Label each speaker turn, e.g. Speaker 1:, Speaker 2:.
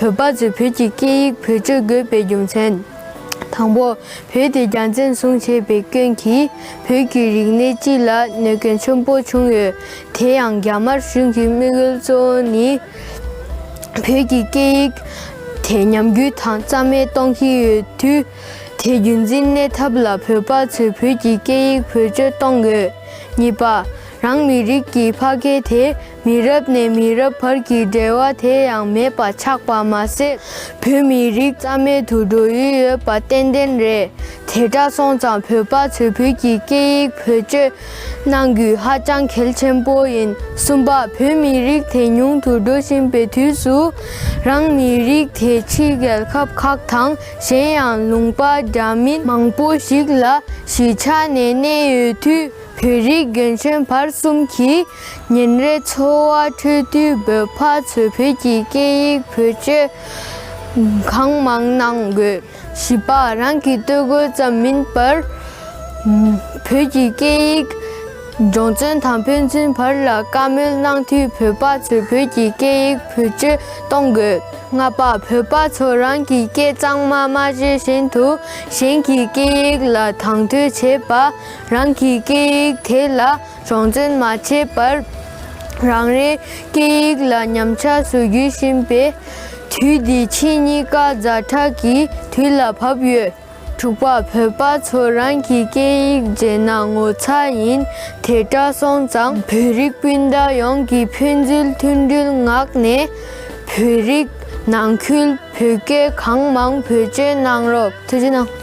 Speaker 1: བོད་པ་ཚོས་བོད་ཀྱི་སྐད་ཡིག་བེད་སྤྱོད་དགོས་པའི་རྒྱུ་མཚན། དང་པོ། བོད་དེ་རྒྱ་འཛིན་བཟུང་བྱས་པའི་སྐྱོན་གྱིས་བོད་ཀྱི་རིག་གནས་སྤྱི་ལ་གནོད་སྐྱོན་ཆེན་པོ་བྱུང་ཡོད། དེ་ཡང་རྒྱ་དམར་གཞུང་གི་དམིགས་ཡུལ་གཙོ་བོ་ནི། བོད་ཀྱི་སྐད་ཡིག་དེ་ཉམས་རྒུད་དང་རྩ་མེད་གཏོང་གི་ཡོད་དུས། དེ་རྒྱུན་འཛིན་གནས་ཐབས་ལ་བོད་པ་ཚོས་བོད་ཀྱི་སྐད་ཡིག་བེད་སྤྱོད་གཏོང་དགོས། གཉིས་པ། རང་མི་རིགས་ཀྱི་ཕ་སྐད་དེ་མི་རབས་ནས་མི་རབས་བར་གྱི་འབྲེལ་བ་དེ་ཡང་མེད་པ་ཆགས་པ་མ་ཟད། བོད་མི་རིགས་རྩ་མེད་དུ་འགྲོ་ཡི་ཡོད་པ་ཏན་ཏན་རེད། དེ་འདྲ་སོང་ཙང་བོད་པ་ཚོས་བོད་ཀྱི་སྐད་ཡིག་བེད་སྤྱོད་གནང་རྒྱུ་ཧ་ཅང་གལ་ཆེན་པོ་ཡིན། གསུམ་པ། བོད་མི་རིགས་དེ་ཉུང་དུ་འགྲོ་བཞིན་པའི་དུས་སུ། རང་མི་རིགས་དེ་ཕྱི་རྒྱལ་ཁབ་ཁག་དང་གཞན་ཡང་ལུང་པ་རྒྱ་མིན་མང་པོ་ཞིག་ལ་གཞིས་ཆགས་ནས་གནས་ཡོད་དུས་བོད་རིགས་རྒན་གཞོན་བར་གསུམ་གྱིས་ཉིན་རེའི་འཚོ་བ་ཁྲོད་དུས་བོད་ཕ་ཚོས་བོད་ཀྱི་སྐད་ཡིག་བེད་སྤྱོད་གང་མང་གནང་དགོས། བྱིས་པ་རང་གི་སྟོད་གོས་ཙམ་མིན་པར། བོད་ཀྱི་སྐད་ཡིག་སྦྱོང་བརྩོན་དང་ཕན་ཚུན་བར་ལ་བཀའ་མོལ་གནང་དུས་བོད་པ་ཚོས་བོད་ཀྱི་སྐད་ཡིག་བེད་སྤྱོད་གཏོང་དགོས། ལྔ་པ། བོད་པ་ཚོ་རང་གི་སྐད་གཙང་མ་མ་བཤད་བཞིན་དུ་གཞན་གྱི་སྐད་ཡིག་ལ་དང་དོད་བྱེད་པ། རང་གི་སྐད་ཡིག་དེ་ལ་གྲངས་འཛིན་མ་བྱས་པར་རང་རེའི་སྐད་ཡིག་ལ་ཉམས་ཆག་བཟོ་རྒྱུ་བཞིན་པའི་དུས་འདི་ཕྱི་གཉིས་ཀ་རྫ་ཕྲག་གི་དུས་ལ་བབ་ཡོད། དྲུག་པ། བོད་པ་ཚོ་རང་གི་སྐད་ཡིག་བརྗེད་ན་ངོ་ཚ་ཡིན་དེ་འདྲ་སོང་ཙང་བོད་རིགས་སྤུན་ཟླ་ཡོངས་ཀྱི་ཕན་ཚུལ་མཐུན་སྒྲིལ་ངག་ནས་བོད་རིགས་ནང་ཁུལ་བོད་སྐད་གང་མང་བེད་སྤྱོད་གནང་རོགས།